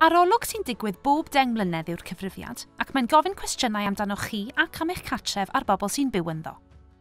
Arolwg sy'n digwydd bob deng mlynedd yw'r Cyfrifiad, ac mae'n gofyn cwestiynau amdanoch chi ac am eich cartref a'r bobl sy'n byw ynddo.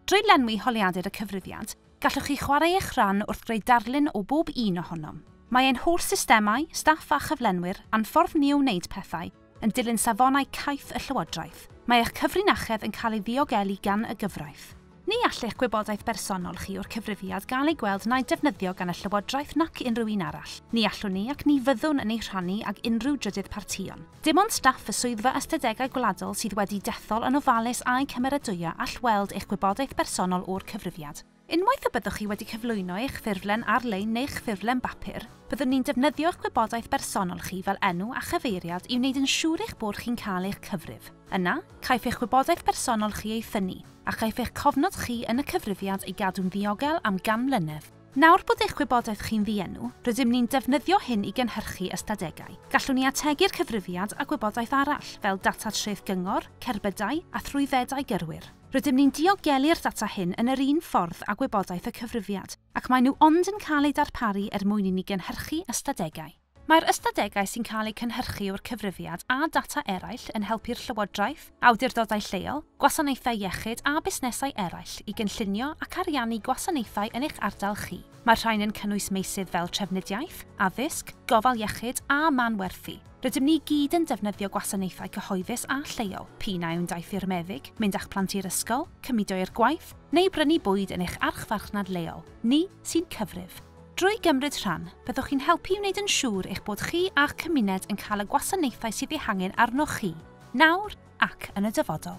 Drwy lenwi holiadur y Cyfrifiad, gallwch chi chwarae eich rhan wrth greu darlun o bob un ohonom. Mae ein holl systemau, staff a chyflenwyr a'n ffordd ni o wneud pethau, yn dilyn safonau caeth y Llywodraeth. Mae eich cyfrinachedd yn cael ei ddiogelu gan y gyfraith. Ni all eich gwybodaeth bersonol chi o'r cyfrifiad gael ei gweld na'i defnyddio gan y Llywodraeth nac unrhyw un arall. Ni allwn ni ac ni fyddwn yn ei rhannu ag unrhyw drydydd partïon. Dim ond staff y Swyddfa Ystadegau Gwladol sydd wedi dethol yn ofalus a'u cymeradwyo all weld eich gwybodaeth bersonol o'r cyfrifiad. Unwaith y byddwch chi wedi cyflwyno eich ffurflen ar-lein neu'ch ffurflen bapur, byddwn ni'n defnyddio'ch gwybodaeth bersonol chi fel enw a chyfeiriad i wneud yn siŵr eich bod chi'n cael eich cyfrif. Yna, caiff eich gwybodaeth bersonol chi ei thynnu, a chaiff eich cofnod chi yn y cyfrifiad ei gadw'n ddiogel am gan mlynedd. Nawr bod eich gwybodaeth chi'n ddienw, rydym ni'n defnyddio hyn i gynhyrchu ystadegau. Gallwn ni ategu'r cyfrifiad â gwybodaeth arall, fel data treth gyngor, cerbydau, a thrwyddedau gyrwyr. Rydym ni'n diogelu'r data hyn yn yr un ffordd â gwybodaeth y cyfrifiad, ac maen nhw ond yn cael eu darparu er mwyn i ni gynhyrchu ystadegau. Mae'r ystadegau sy'n cael eu cynhyrchu o'r cyfrifiad a data eraill yn helpu'r llywodraeth, awdurdodau lleol, gwasanaethau iechyd a busnesau eraill i gynllunio ac ariannu gwasanaethau yn eich ardal chi. Mae'r rhain yn cynnwys meysydd fel trafnidiaeth, addysg, gofal iechyd a manwerthu. Rydym ni i gyd yn defnyddio gwasanaethau cyhoeddus a lleol, p'un a yw'n daith i'r meddyg, mynd â'ch plant i'r ysgol, cymudo i'r gwaith, neu brynu bwyd yn eich archfarchnad leol, ni sy'n cyfrif. Drwy gymryd rhan, byddwch chi'n helpu i wneud yn siŵr eich bod chi a'ch cymuned yn cael y gwasanaethau sydd eu hangen arnoch chi, nawr ac yn y dyfodol.